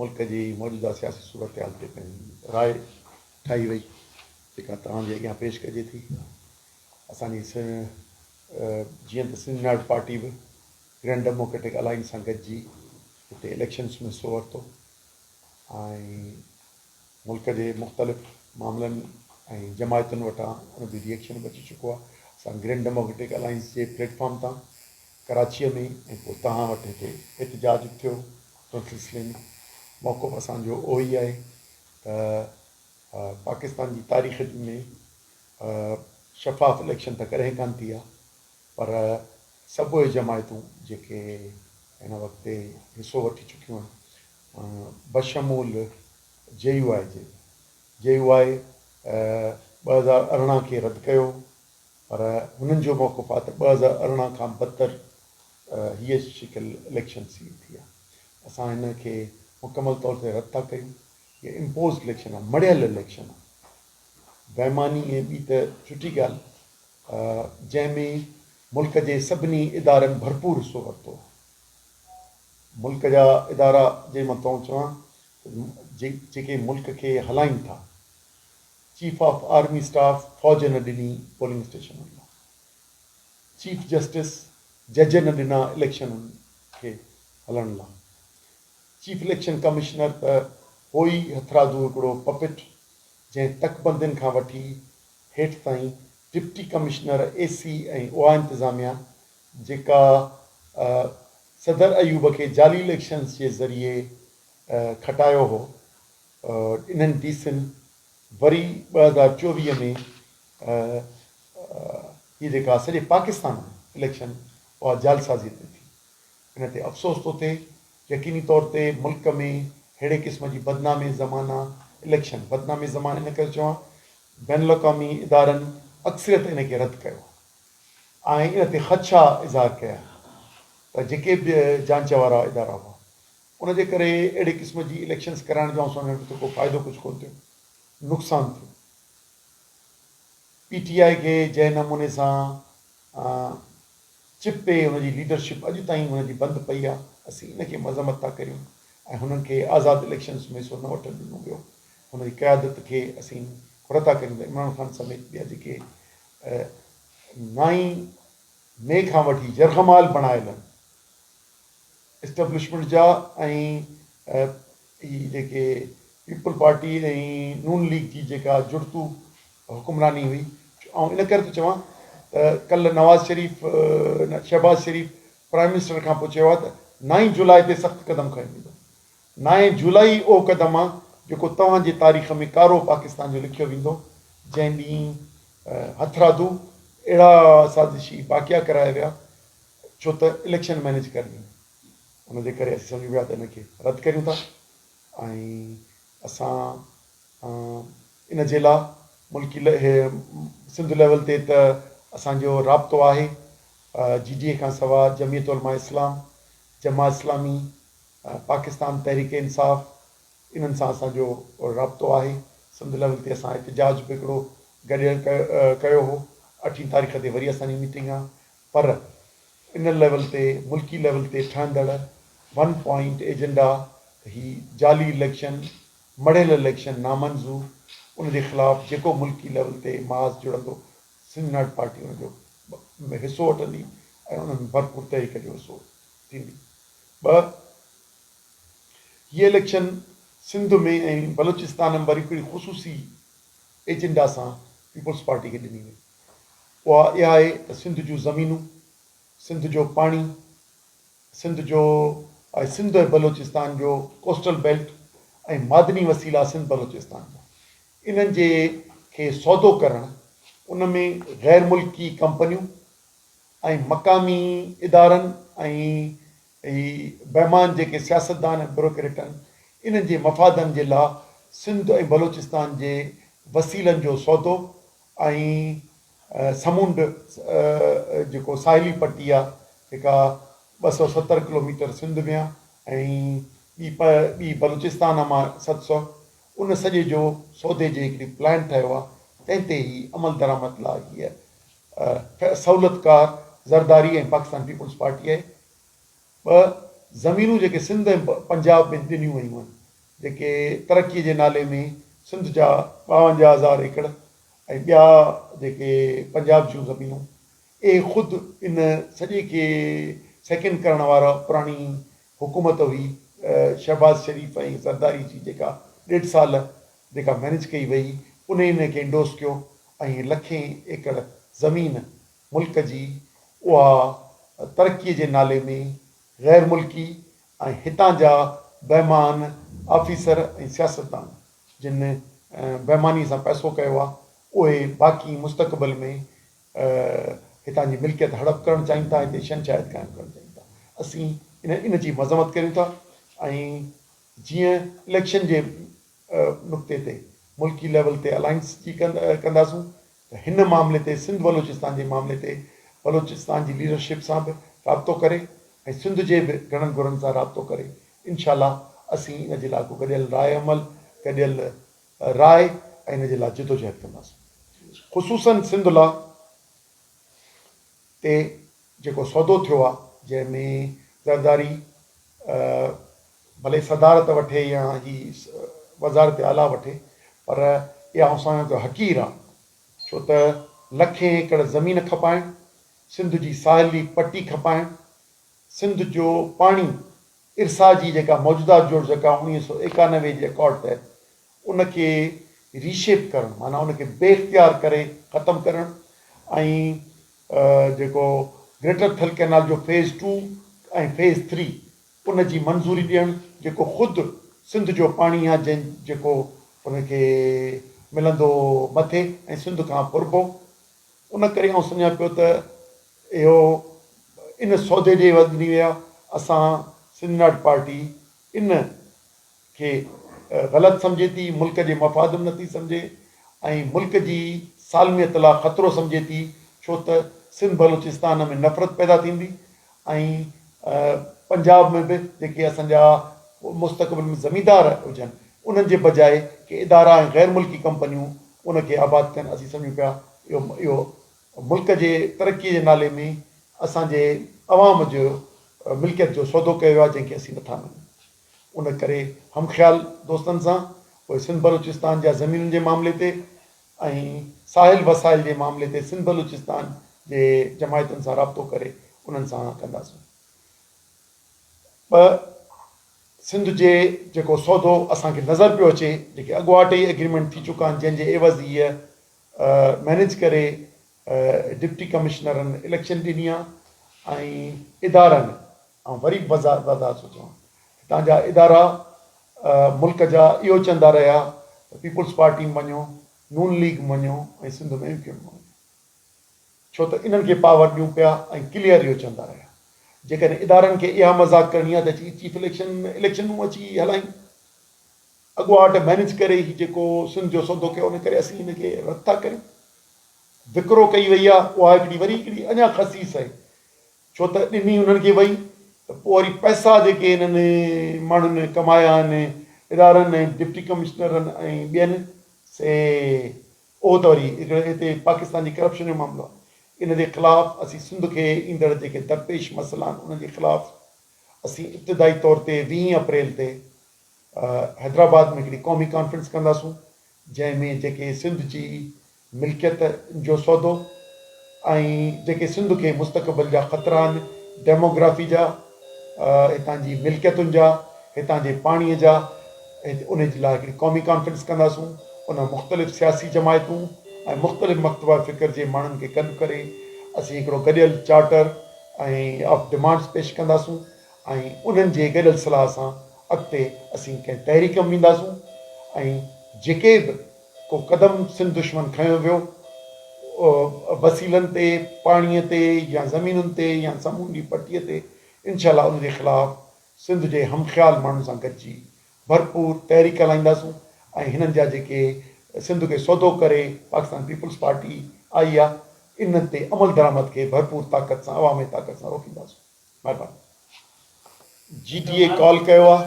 ملڪ جي موجوده سياسي صورتحال تي پنهنجي راء ٺاهي وئي جيڪا توهان جي اڳيان پيش ڪجي ٿي. اسان جي جيئن ته سنڌ يونائيٽيڊ پارٽي به گرينڊ ڊيموڪريٽڪ الائنس سان گڏجي هتي اليڪشنز ۾ حصو ورتو ۽ ملڪ جي مختلف معاملن ۽ جماعتن وٽان ان جو ري ايڪشن به اچي چڪو آهي اسان گرينڊ ڊيموڪريٽڪ الائنس جي پليٽ فارم تان ڪراچيء ۾ ۽ پوء توهان وٽ هتي احتجاج به ٿيو ان سلسلي ۾ موقف اسان جو اهو ئي آهي ته پاڪستان جي تاريخ ۾ شفاف اليڪشن ته ڪڏهن ڪانه ٿي آهي پر سڀ اهي جماعتون جيڪي هن وقت حصو وٺي چڪيون آهن بشمول جي يو آء جي، جي يو آء ٻه هزار ارڙهن کي رد ڪيو پر هنن جو موقف آ ته ٻه هزار ارڙهن کان بدتر هيء شڪل اليڪشن سي ٿي آ، اسان هن کي مڪمل طور تي رد ٿا ڪيون، هيء امپوزڊ اليڪشن آ، مڙهيل اليڪشن آ، بيماني ۽ ٻي ته ڇٽي ڳالهه جنهن ۾ ملڪ جي سڀني ادارن ڀرپور حصو ورتو آ. ملڪ جا ادارا جي مان تئون چوان ته جيڪي ملڪ کي هلائين ٿا چيف آف آرمي اسٽاف فوج نه ڏني پولنگ اسٽيشنن لاء چيف جسٽس جج نه ڏنا اليڪشنن کي هلڻ لاء چيف اليڪشن ڪمشنر ته هو ئي هٿرادو هڪڙو پپٽ جنهن تڪبندين کان وٺي هيٺ تائين ڊپٽي ڪمشنر اي سي ۽ اها انتظاميا جيڪا صدر ايوب کي جعلي اليڪشنز جي ذريعي کٽايو هو، انهن ڊي سين وري ٻه هزار چوويهه ۾ هي جيڪا سڄي پاڪستان ۾ اليڪشن اها جعلسازيء تي ٿي، ان تي افسوس ٿو ٿئي، يقيني طور تي ملڪ ۾ ههڙي قسم جي بدنامي زمانه اليڪشن، بدنامي زمانه ان ڪري ٿو چوان بين الاقوامي ادارن اڪثريت ان کي رد ڪيو آهي. آهن ان تي خدشا اظهار ڪيا ته جيڪي به جانچ وارا ادارا هئا ان جي ڪري اهڙي قسم جي اليڪشنز ڪرائڻ جو آئون سمجهان ٿو ته ڪو فائدو ڪجهه ڪونه ٿيو نقصان ٿيو پي ٽي آء کي جنهن نموني سان چپي ان جي ليڊرشپ اڄ تائين ان جي بند پئي آهي اسين ان کي مذمت ٿا ڪريون ۽ هنن کي آزاد اليڪشنز ۾ حصو نه وٺڻ ڏنو ويو هن جي قيادت کي اسين گهر ٿا ڪريون ته عمران خان سميت ٻيا جيڪي ۽ نائين مئي کان وٺي يرغمال بڻايلن اسٽبلشمينٽ جا ۽ هي جيڪي پيپلز پارٽي ۽ نون ليگ جي جيڪا جڙتو حڪمراني هئي آئون ان ڪري ٿو چوان ته ڪلهه نواز شريف شهباز شريف پرائيم منسٽر کان پوء چيو آهي ته نائين جولاء تي سخت قدم کنيو ويندو نائين جولائي اهو قدم آ جيڪو توهان جي تاريخ ۾ ڪارو پاڪستان جو لکيو ويندو جنهن ڏينهن هٿرادو اهڙا سازشي واقعا ڪرايا ويا ڇو ته اليڪشن مينيج ڪرڻي هئي ان جي ڪري اسين سمجهون پيا ته ان کي رد ڪريون ٿا ۽ اسان ان جي لا ملڪي سنڌ ليول تي ته اسان جو رابطو آهي جي ڊي اي کان سوا جمعيت علماء اسلام جماع اسلامي پاڪستان تحريڪ انصاف انهن سان اسان جو رابطو آهي سنڌ ليول تي اسان احتجاج به هڪڙو گڏيل ڪيو هو اٺين تاريخ تي وري اسان جي ميٽنگ آ پر ان ليول تي ملڪي ليول تي ٺهندڙ ون پوائنٽ ايجنڊا ته هي جعلي اليڪشن مڙهيل اليڪشن نامنظو ان جي خلاف جيڪو ملڪي ليول تي محاذ جڙندو سنڌ ناٽ پارٽي ان جو حصو وٺندي ۽ انهن ڀرپور تحريڪ جو حصو ٿيندي. ٻه، هي اليڪشن سنڌ ۾ ۽ بلوچستان ۾ وري ڪهڙي خصوصي ايجنڊا سان پيپلز پارٽي کي ڏني وئي، اها اها آهي ته سنڌ جون زمينون، سنڌ جو پاڻي، سنڌ جو آهي سنڌ ۽ بلوچستان جو ڪوسٽل بيلٽ ۽ معدني وسيلا سنڌ بلوچستان جا، انهن جي کي سودو ڪرڻ، ان ۾ غير ملڪي ڪمپنيون، ۽ مقامي ادارن ۽ هي بيمان جيڪي سياستدان ۽ بروڪريٽن انهن جي مفادن جي لا سنڌ ۽ بلوچستان جي وسيلن جو سودو ۽ سمنڊ جيڪو ساحلي پٽي آ جيڪا ٻه سؤ ستر ڪلوميٽر سنڌ ۾ آ ۽ ٻي پ ٻي بلوچستان مان ست سؤ ان سڄي جو سودي جي هڪڙي پلان ٺهيو آ تنهن تي هي عملدرآمد لا هيء ٺھ سھولت ڪار زرداري ۽ پاڪستان پيپلز پارٽي آھي ٻھ زمينون جيڪي سنڌ ۽ پنجاب ۾ ڏنيون ويون ھن جيڪي ترقي جي نالي ۾ سنڌ جا ٻاونجاھ ھزار ايڪڙ ۽ ٻيا جيڪي پنجاب جون زمينون اھي خود ان سڄي کي سيڪنڊ ڪرڻ وارا پراڻي حڪومت ھئي شھباز شريف ۽ زرداري جي جيڪا ڏيڍ سال جيڪا مئنيج ڪئي وئي انهي نه کي انڊورس ڪيو ۽ لکين ايڪڙ زمين ملڪ جي اها ترقي جي نالي ۾ غير ملڪي ۽ هتان جا بيمان آفيسر ۽ سياستدان جن بيماني سان پئسو ڪيو آ اهي باقي مستقبل ۾ هتان جي ملڪيت هڙپ ڪرڻ چاهين ٿا هتي شهنشاهيت قائم ڪرڻ چاهين ٿا اسين ان جي مذمت ڪريون ٿا ۽ جيئن اليڪشن جي نقطي تي ملڪي ليول تي الائنس جي ڪنداسون ته هن معاملي تي سنڌ بلوچستان جي معاملي تي بلوچستان جي ليڊرشپ سان به رابطو ڪري ۽ سنڌ جي به گهڻن گهرن سان رابطو ڪري انشاء الله اسين ان جي لاڳو گڏيل راء عمل گڏيل راء ۽ ان جي لاء جدوجهد ڪنداسون خصوصن سنڌ لاء تي جيڪو سودو ٿيو آ جنهن ۾ زرداري ڀلي صدارت وٺي يا هي وزارت اعليٰ وٺي پر اها اسان جو حقير آ ڇو ته لکين ايڪڙ زمين کپائڻ سنڌ جي ساحلي پٽي کپائڻ سنڌ جو پاڻي ارسا جي جيڪا موجوده جوڙجڪ آ اڻيهه سؤ ايڪانوي جي اڪارڊ تحت ان کي ري شيپ ڪرڻ معنيٰ ان کي بي اختيار ڪري ختم ڪرڻ ۽ جيڪو گريٽر ٿل ڪئنال جو فيز ٽو ۽ فيز ٿري ان جي منظوري ڏيڻ جيڪو خود سنڌ جو پاڻي آ جنهن جيڪو ان کي ملندو مٿي ۽ سنڌ کان ڦربو ان ڪري آئون سمجهان پيو ته اهو ان سودي ڏي وڌ ڏني ويا اسان سنڌ ناٽ پارٽي ان کي غلط سمجهي ٿي، ملڪ جي مفادن نٿي سمجهي ۽ ملڪ جي سالميت لا خطرو سمجهي ٿي ڇو ته سنڌ بلوچستان ۾ نفرت پيدا ٿيندي ۽ پنجاب ۾ به جيڪي اسان جا مستقبل ۾ زميندار هجن انهن جي بجاء ڪي ادارا ۽ غير ملڪي ڪمپنيون ان کي آباد ڪن اسين سمجهون پيا اهو اهو ملڪ جي ترقي جي نالي ۾ اسان جي عوام جو ملڪيت جو سودو ڪيو ويو آهي جنهن کي اسين نٿا مڃون. ان ڪري هم خيال دوستن سان پوء سنڌ بلوچستان جا زمينن جي معاملي تي ۽ ساحل وسائل جي معاملي تي سنڌ بلوچستان جي جماعتن سان رابطو ڪري انهن سان ڪنداسون. ٻه سنڌ جي جيڪو سودو اسان کي نظر پيو اچي جيڪي اڳواٽ ئي ايگريمينٽ ٿي چڪا آهن جنهن جي عيوض هيء مينيج ڪري ڊپٽي ڪمشنرن اليڪشن ڏني آهي ۽ ادارن آئون وري بزار بزار ٿو چوان هتان جا ادارا ملڪ جا اهو چوندا رهيا ته پيپلز پارٽي مڃو، نون ليگ مڃو ۽ سنڌ ۾ ايم ڪيو ايم مڃو ڇو ته انهن کي پاور ڏيون پيا ۽ ڪليئر اهو چوندا رهيا جيڪڏهن ادارن کي اها مذاق ڪرڻي آهي ته اچي چيف اليڪشن ۾ اليڪشنون اچي هلائين اڳواٽ مينيج ڪري هي جيڪو سنڌ جو سودو ڪيو ان ڪري اسين هن کي رد ٿا ڪريون وڪرو ڪئي وئي آهي اها هڪڙي وري هڪڙي اڃا خصيص آهي ڇو ته ڏني انهن کي وئي ته پوء وري پئسا جيڪي انهن ماڻهن ڪمايا آهن ادارن ۽ ڊپٽي ڪمشنرن ۽ ٻين سي اهو ته وري هڪڙي هتي پاڪستان جي ڪرپشن جو معاملو آهي ان جي خلاف اسين سنڌ کي ايندڙ جيڪي درپيش مسئلا آهن انهن جي خلاف اسين ابتدائي طور تي ويهين اپريل تي حيدرآباد ۾ هڪڙي قومي ڪانفرنس ڪنداسون جنهن ۾ جيڪي سنڌ جي ملڪيت جو سودو ۽ جيڪي سنڌ کي مستقبل جا خطرا آهن، ڊيموگرافي جا، هتان جي ملڪيتن جا، هتان جي پاڻي جا، ان جي لاء هڪڙي قومي ڪانفرنس ڪنداسون، ان مختلف سياسي جماعتون ۽ مختلف مڪتبه فڪر جي ماڻهن کي گڏ ڪري اسين هڪڙو گڏيل چارٽر ۽ آف ڊمانڊس پيش ڪنداسون ۽ انهن جي گڏيل صلاح سان اڳتي اسين ڪنهن تحريڪ ۾ وينداسون ۽ جيڪي به ڪو قدم سنڌ دشمن کنيو ويو، وسيلن تي، پاڻيء تي يا زمينن تي يا سمونڊي پٽيء تي، انشاء الله ان جي خلاف سنڌ جي هم خيال ماڻهن سان گڏجي ڀرپور تحريڪ هلائينداسون ۽ هنن جا جيڪي سنڌ کي سودو ڪري پاڪستان پيپلز پارٽي آئي آ، انهن تي عملدرآمد کي ڀرپور طاقت سان عوامي طاقت سان روڪينداسون. جي ڊي اي ڪال ڪيو آهي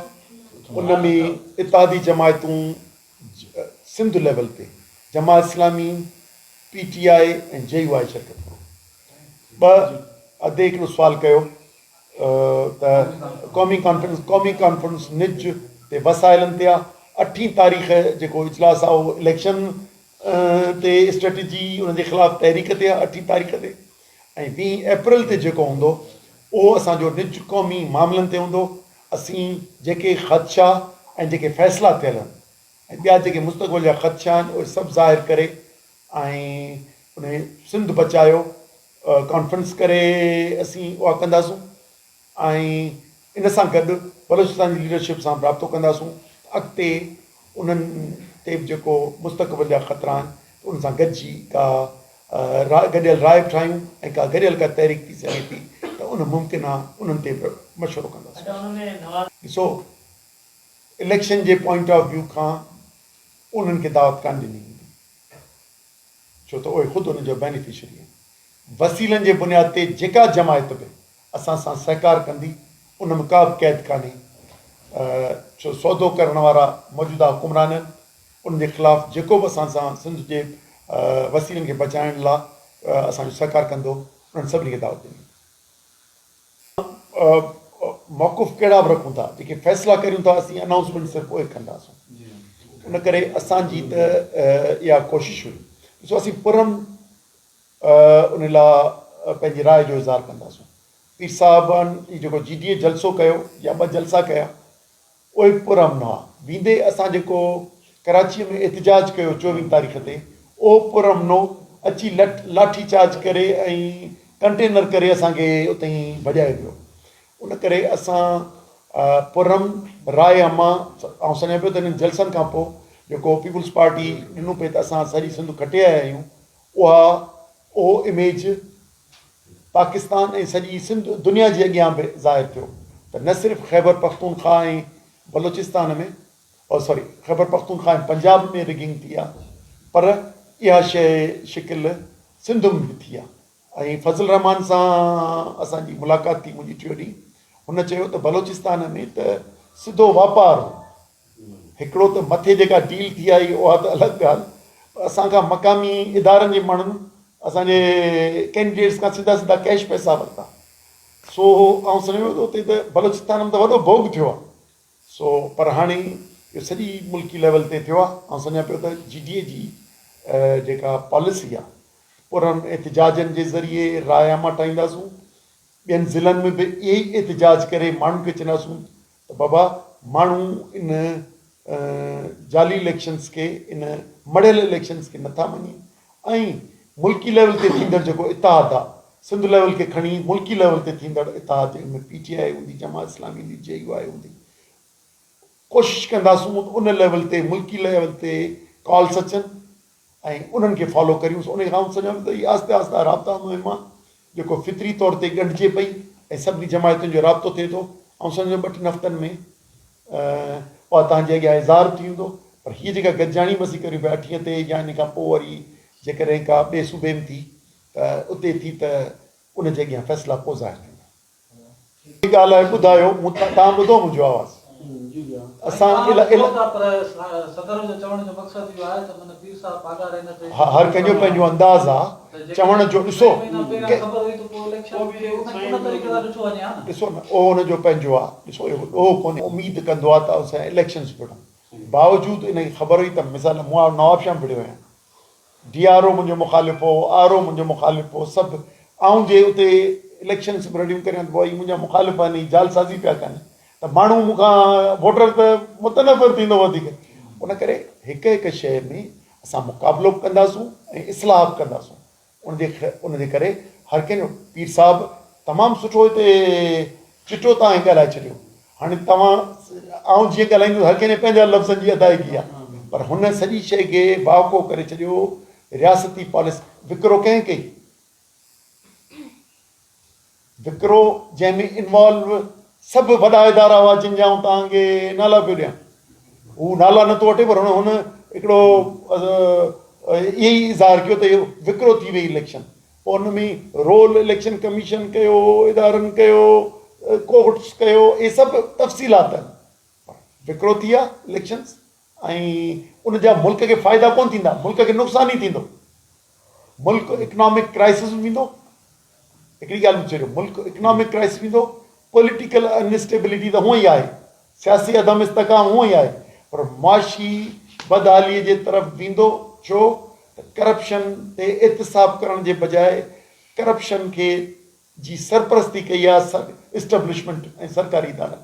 ان ۾ اتحادي جماعتون سنڌ ليول تي Jamaat Islami P T I ۽ J U I شرڪت ڪرو ٻه ادي هڪڙو سوال ڪيو ته قومي ڪانفرنس قومي ڪانفرنس نج تي وسائلن تي آهي اٺين تاريخ جيڪو اجلاس آهي اهو اليڪشن تي اسٽريٽجي ان جي خلاف تحريڪ تي آهي اٺين تاريخ تي ۽ ويهه اپريل تي جيڪو هوندو اهو اسان جو نج قومي معاملن تي هوندو، اسين جيڪي خدشا ۽ جيڪي فيصلا ٿيل آهن ۽ ٻيا جيڪي مستقبل جا خدشا آهن اهي سڀ ظاهر ڪري ۽ انهي سنڌ بچايو ڪانفرنس ڪري اسين اها ڪنداسون. ۽ ان سان گڏ بلوچستان جي ليڊرشپ سان به رابطو ڪنداسون ته اڳتي انهن تي به جيڪو مستقبل جا خطرا آهن ته ان سان گڏجي ڪا راء گڏيل راء به ٺاهيون ۽ ڪا گڏيل ڪا تحريڪ ٿي سگهي ٿي ته ان ممڪن آهي انهن تي به مشورو ڪنداسون. ڏسو اليڪشن جي پوائنٽ آف ويو کان انهن کي دعوت ڪانه ڏني ويندي ڇو ته اهي خود ان جا بينيفشري آهن وسيلن جي بنياد تي جيڪا جماعت به اسان سان سهڪار ڪندي ان ۾ ڪا به قيد ڪانهي ڇو سودو ڪرڻ وارا موجوده حڪمران آهن ان جي خلاف جيڪو به اسان سان سنڌ جي وسيلن کي بچائڻ لا اسان جو سهڪار ڪندو انهن سڀني کي دعوت ڏني موقف ڪهڙا به رکون ٿا جيڪي فيصلا ڪريون ٿا اسين اناؤنسمينٽ سر پوء ڪنداسون ان ڪري اسان جي ته اها ڪوشش هئي ڏسو اسين پرم ان لاء پنهنجي راء جو اظهار ڪنداسون پير صاحبن جي جيڪو جي ڊي اي جلسو ڪيو يا ٻه جلسا ڪيا اهي به پر امن هئا ويندي اسان جيڪو ڪراچي ۾ احتجاج ڪيو چوويهه تاريخ تي اهو پر امنو اچي لٺ لاٺي چارج ڪري ۽ ڪنٽينر ڪري اسان کي اتي ئي ڀڄائي ويو ان ڪري اسان پر امن راء اما آئون سمجهان پيو ته انهن جلسن کان پوء جيڪو پيپلز پارٽي ڏنو پئي ته اسان سڄي سنڌ کٽي آيا آهيون اها اهو اميج پاڪستان ۽ سڄي سنڌ دنيا جي اڳيان به ظاهر ٿيو ته نه صرف Khyber Pakhtunkhwa ۽ Balochistan ۾ oh sorry Khyber Pakhtunkhwa ۽ Punjab ۾ rigging ٿي آهي پر اها شيء شڪل سنڌ ۾ به ٿي آهي ۽ فضل الرحمان سان اسان جي ملاقات ٿي منهنجي ٽيو ڏينهن هن چيو ته بلوچستان ۾ ته سڌو واپار هو هڪڙو ته مٿي جيڪا ڊيل ٿي آئي اها ته الڳ ڳالهه پر اسان کان مقامي ادارن جي ماڻهن اسان جي ڪينڊيڊيٽس کان سڌا سڌا ڪيش پئسا ورتا سو آئون سمجهان ٿو اتي ته بلوچستان ۾ ته وڏو ڀوڳ ٿيو آهي سو پر هاڻي اهو سڄي ملڪي ليول تي ٿيو آهي آئون سمجهان پيو ته جي ڊي اي جي جيڪا پاليسي آهي پر انهن احتجاجن جي ذريعي رايا مٽائينداسون ٻين ضلعن ۾ به اهي ئي احتجاج ڪري ماڻهن کي چونداسون ته بابا ماڻهو ان جعلي اليڪشنز کي ان مڙهيل اليڪشنز کي نٿا مڃين ۽ ملڪي ليول تي ٿيندڙ جيڪو اتحاد آ سنڌ ليول کي کڻي ملڪي ليول تي ٿيندڙ اتحاد جنهن ۾ پي ٽي آء هوندي جماعت اسلامي هوندي جي يو آء هوندي ڪوشش ڪنداسون ان ليول تي ملڪي ليول تي ڪالس اچن ۽ انهن کي فالو ڪريون سو انهي کان آئون سمجهان ٿو ته هي آهستي آهستي رابطا مهم آهن جيڪو فطري طور تي ڳنڍجي پئي ۽ سڀني جماعتن جو رابطو ٿئي ٿو آئون سمجهان ٿو ٻه ٽن هفتن ۾ اها توهان جي اڳيان اظهار ٿي ويندو پر هي جيڪا گڏجاڻي مسي ڪريون پيا اٺين تي يا انهي کان پوء وري جيڪڏهن ڪا ٻئي صوبي ۾ ٿي ته اتي ٿي ته ان جي اڳيان فيصلا پوء ظاهر ٿيندا. ڪا لاء ٻڌايو مون تان ٻڌو منهنجو آواز اسان هر ڪنهن جو پنهنجو انداز آ چوڻ جو ڏسو ڏسو نه او ان جو پنهنجو آ ڏسو اهو ڏوهه ڪونهي اميد ڪندو آ ته اسان اليڪشنز به باوجود ان کي خبر هئي ته مثال مون نواب شاهه ڀڙيو آهيان ڊي آر او منهنجو مخالف هو، آر او منهنجو مخالف هو، سڀ. آئون جي اتي اليڪشنس به رڙيون ڪريان ته پوء هي منهنجا مخالف آهن، هي جعلسازي پيا ڪن ته ماڻهو مون کان ووٽر ته متنفر ٿيندو وڌيڪ. ان ڪري هڪ هڪ شيء ۾ اسان مقابلو به ڪنداسون ۽ اصلاح به ڪنداسون. ان جي ان جي ڪري هر ڪنهن جو پير صاحب تمام سٺو هتي چٽو توهان ڳالهائي ڇڏيو هاڻي توهان آئون جيئن ڳالهائيندس هر ڪنهن جي پنهنجا لفظن جي ادائيگي آ پر هن سڄي شئي کي وهڪو ڪري ڇڏيو رياستي پاليس وڪرو ڪنهن ڪئي وڪرو جنهن ۾ انوالو سڀ وڏا ادارا هئا جن جا آئون توهان کي نالا پيو ڏيان هو نالا نٿو وٺي پر هن هڪڙو اهي اظهار ڪيو ته اهو وڪرو ٿي وئي اليڪشن ان ۾ رول اليڪشن ڪميشن ڪيو، ادارن ڪيو، ڪورٽس ڪيو اهي سڀ تفصيلات آهن پر وڪرو ٿي ويا اليڪشنز ۽ ان جا ملڪ کي فائدا ڪون ٿيندا ملڪ کي نقصان ئي ٿيندو ملڪ اڪنامڪ ڪرائسس ۾ ويندو هڪڙي ڳالهه ٻڌجو ملڪ اڪنامڪ ڪرائسس ويندو پوليٽيڪل انسٽيبلٽي ته هونئن ئي آهي سياسي عدم استحڪام هونئن ئي آهي پر معاشي بدحالي جي طرف ويندو ڇو ته ڪرپشن تي احتساب ڪرڻ جي بجاء ڪرپشن کي جي سرپرستي ڪئي آهي اسٽبلشمينٽ ۽ سرڪاري ادارن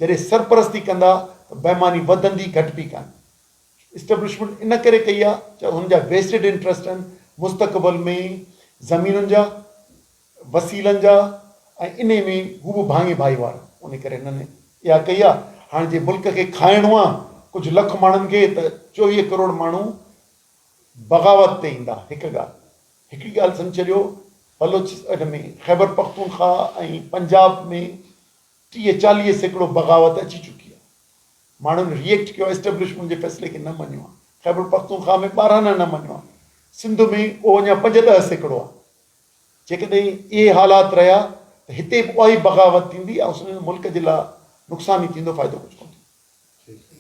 جڏهن سرپرستي ڪندا ته بيماني وڌندي گهٽبي ڪانه اسٽبلشمينٽ ان ڪري ڪئي آهي جو هن جا ويسٽيڊ انٽرسٽ آهن مستقبل ۾ زمينن جا وسيلن جا ۽ انهي ۾ هو به ڀاڱي ڀائيوار انهي ڪري هنن اها ڪئي آ هاڻ جي ملڪ کي کائڻو آ ڪجهه لک ماڻهن کي ته چوويهه ڪروڙ ماڻهو بغاوت تي ايندا هڪ ڳالهه هڪڙي ڳالهه سمجهي ڇڏيو بلوچ ان ۾ خيبر پختونخواهه ۽ پنجاب ۾ ٽيهه چاليهه سيڪڙو بغاوت اچي چڪي آ ماڻهن ريئيڪٽ ڪيو آ اسٽيبلشمينٽ جي فيصلي کي نه مڃيو آ خيبر پختونخواهه ۾ ٻارهانه نه مڃيو آ سنڌ ۾ اهو اڃا پنج ڏهه سيڪڙو آ جيڪڏهن اهي حالات رهيا ته هتي به اهائي بغاوت ٿيندي ۽ سندن ملڪ جي لاء نقصان ئي ٿيندو فائدو ڪجهه ڪونه ٿيندو.